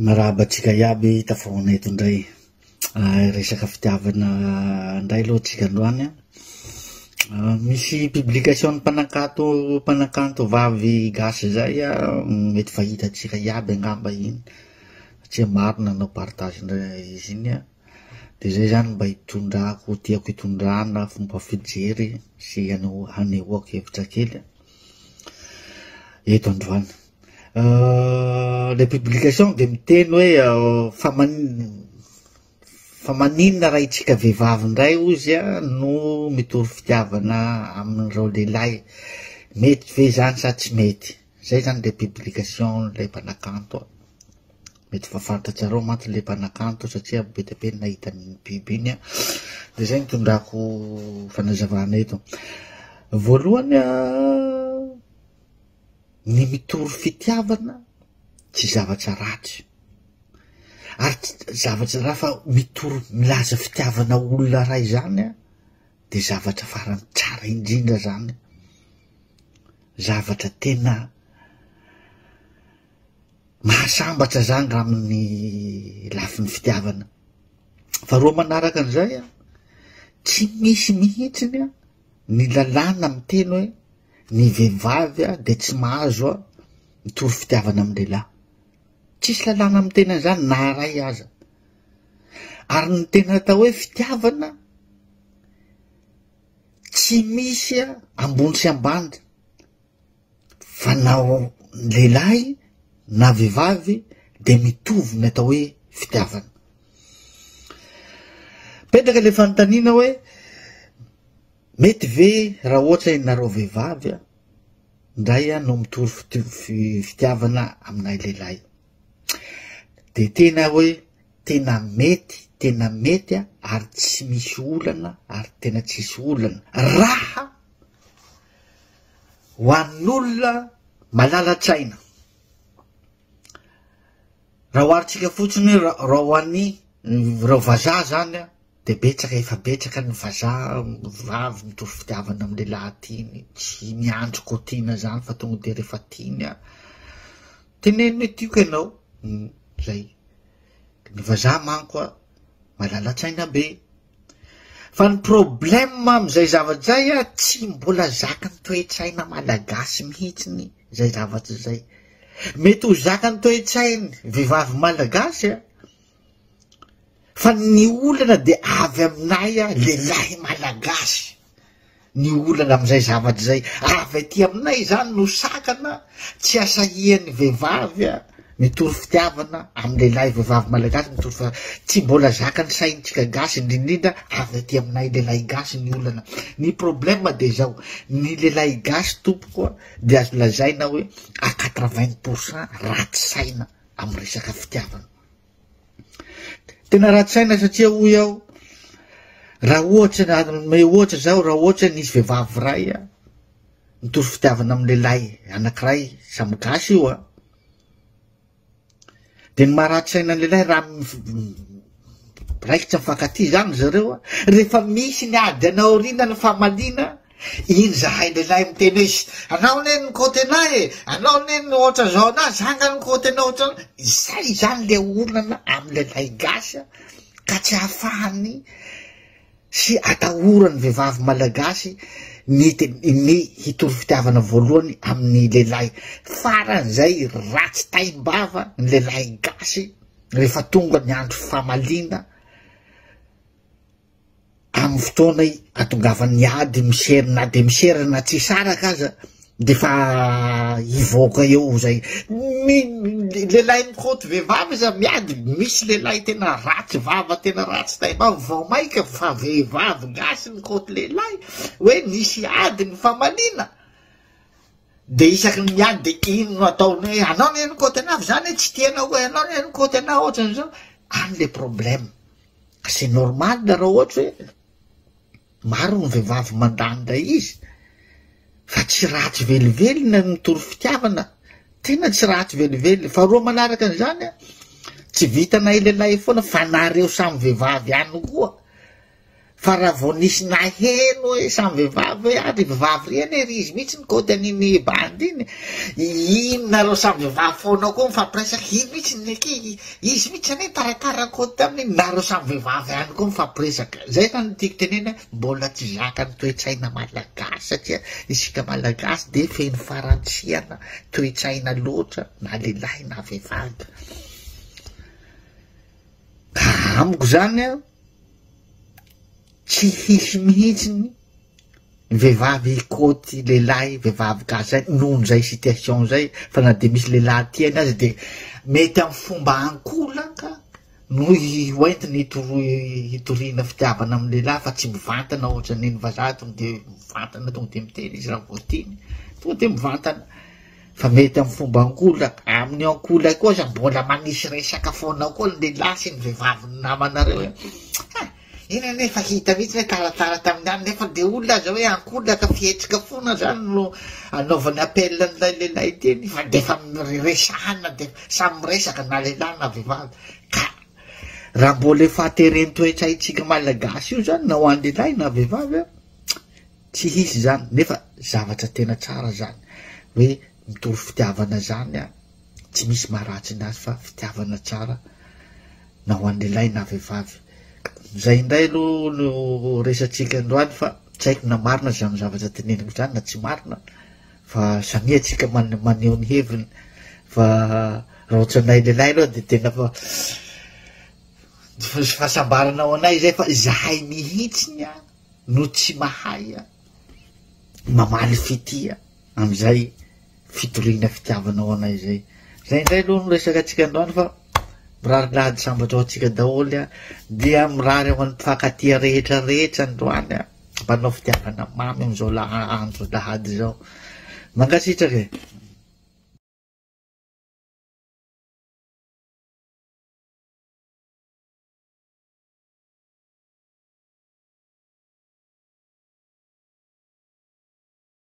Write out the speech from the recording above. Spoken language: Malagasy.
Mirahaba antsika iaby tafahoana eto indray ah, resaka fitiavana indray aloha antsika androany an. Ah, misy publication mpanankato mpanankanto vavy gasy zay ah, mety fa hitantsika iaby angamba iny satria maro nanao partage indray izy iny an. Dia zay zany mba hitondrako tiako hitondrana fomba fijery sy hanehoako hevitra kely eto androany. Ilay publication dia miteny hoe fa man- fa maninona raha itsika vehivavy indray ozy a no mitory fitiavana amin'ireo lehilahy mety ve izany sa tsy mety zay zany le publication lay mpanakanto a mety fa fantatsareo mantsy le mpanakanto satria be dia be ny nahita ny biby iny a de zay nitondrako fanazavana eto voalohany a ny mitory fitiavana tsy zavatra ratsy ary tsy zavatra raha fa mitory milaza fitiavana olona ray zany a de zavatra farany tsara indrindra zany zavatra tena mahasambatra zany raha amin'ny lafin'ny fitiavana fa roa manaraka an'izay a tsy misy mihitsiny a ny lalàna miteny hoe ny vehivavy a de tsy mahazo a mitory fitiavana am lehilahy tsisy lalàna miteny an'izany na ray aza ary ny tena atao hoe fitiavana tsy misy a ambony sy ambany Fa na lehilahy na vehivavy dia mitovy ny atao hoe fitiavana. Petraka ilay fanontaniana hoe mety ve raha ohatra ianareo vehivavy a ndray a no mitory fitiavana aminay lehilahy de tena hoe tena mety tena mety a ary tsy misy olana ary tena tsisy olana raha ho an'olona malala-tsaina. Raha oharintsika fotsiny hoe ra- raha ho an'ny ireo vazaha zany a, de betsaka efa betsaka ny vazaha vavy mitovy fitiavana amin'ny lehilahy tiany, tsy miandry koa tiana zany fa tonga de rehefa tiany a, teneno hoe tiako ianao, zay. Ny vazaha manko a, malala-tsaina be, Fa ny problème amin'izay zavatra izay a, tsy mbola zakan'ny toe-tsaina malagasy mihitsiny izay zavatra izay. Mety ho zakan'ny toe-tsainy vehivavy malagasy a, fa ny olana dia avy aminay a, lehilahy malagasy. ny olana amin'izay zavatra izay avy aty aminay izany no sakana tsy asahian'ny vehivavy a mitory fitiavana amin'ny lehilahy vehivavy malagasy mitory fa tsy mbola zakan'ny saintsika gasy indrindrindra avy aty aminay lehilahy gasy ny olana ny problema de zao ny lehilahy gasy tompoko a de azo lazaina hoe a quatre-vingt pour cent ratsy saina amin'ny resaka fitiavana Tena ratsy saina satria hoy aho, raha ohatra ny hanome ohatra zaho, raha ohatra nisy vehivavy iray a, nitory fitiavana amin'ny lehilahy anankiray samy gasy io a, de ny maharatsy saina ny lehilahy raha raikitra mifankatia zany zareo a, rehefa misy ny ady any aoriana ny famaliana, Iny zahay lehilahy miteny hoe ish, anao anie no côté anah e, anao anie no ohatra zao anah, za nga no côté anao ohatra anah. Izay izany le olana amin'ny lehilahy gasy an, ka tsy ahafahany sy atahoran'ny vehivavy malagasy ny ny hitory fitiavana voalohany amin'ny lehilahy. Faran'izay ratsy taim-bava ny lehilahy gasy rehefa tonga ny andro famaliana. amin'ny fotoana ihatongavan'ny ady miser na de misera na tsy saraka aza de fa hivoaka eo zay mi lehilahy mikoty vehivavy iza miady misy lehilahy tena ratsy vava tena ratsy taima vao maika fa vehivavy gasy mikoty lehilahy hoe nisy ady ny famaliana de isaky ny miady de ino no ataony hoe anao ny mikoty anavy zany tsy tianao hoe anao ny mikoty anao ohatran'izao any le problema C'est normal raha ohatra hoe maro ny vehivavy mandà an'ilay izy fa tsy ratsy velively ny mitory fitiavana tena tsy ratsy velively fa roa manaraka an'izany a tsy vitanay lehilahy foana fa nareo samy vehivavy ihany koa fa raha vao nisy naheno hoe samy vehivavy hoe ary vehivavy reny ery izy mihitsy ny kaoty an'iny bandy iny iny nareo samy vehivavy foana koa mifampiresaka iny mihitsy ny aky Izy mihitsy anie nitaratarako taminy, nareo samy vehivavy ihany koa mifampiresaka. Izay izany no tiako tenenina, mbola tsy zaka ny toe-tsaina malagasy satria isika malagasy dia feno farantsiana toe-tsaina loatra na lehilahy na vehivavy. Ka amiko izany tsy hisy mihitsy ny vehivavy hikoty lehilahy vehivavy gasy zay noho zay situation zay fa na de misy lehilahy tiany azy de mety am fomba ankolaka no hoentiny hitoroy hitoriana fitiavana am lehilahy fa tsy mivantana ohatra ny ny vazaha tonga de mivantana tonga de miteny izy raha vao tiany tonga de mivantana fa mety am fomba ankolaka amin'ny ankolay koa aza mbola manisy resaka foana koa ny lehilahy sy ny vehivavy ny namanareo e. Eny anie efa hita mihitsy hoe taratara tamin'ny alina efa dia olona aza hoe ankolina ka fihetsika foana zany no anaovany appel an'ilay lehilahy teny fa dia efa resahana dia samy miresaka na lehilahy na vehivavy ka raha mbola efa atereny toetra itsika malagasy io zany na ho an'ny lehilahy na vehivavy a tsy hisy zany nefa zavatra tena tsara zany hoe mitory fitiavana zany a tsy misy maharatsy ny azy fa fitiavana tsara na ho an'lehilahy na vehivavy. Izay indray aloha no resatsika androany fa tsy haiko na marina izany zavatra teneniko izany na tsy marina fa samia tsika maneho ny heviny fa raha ohatranay lehilahy aloha dia tena fa fa fahasambarana ao anay izay fa izahay mihitsy ny a no tsy mahay a mamaly fitia Amin'izay fitoriana fitiavana ho anay izay. Izay indray aloha no resaka antsika androany fa mirary lahady sambatra ho antsika daholo an. Dia mirary ho an'ny mpifankatia rehetra rehetra androany an. Mpanao fitiavana mamy amin'izao laha andro lahady izao. Mankasitraka e.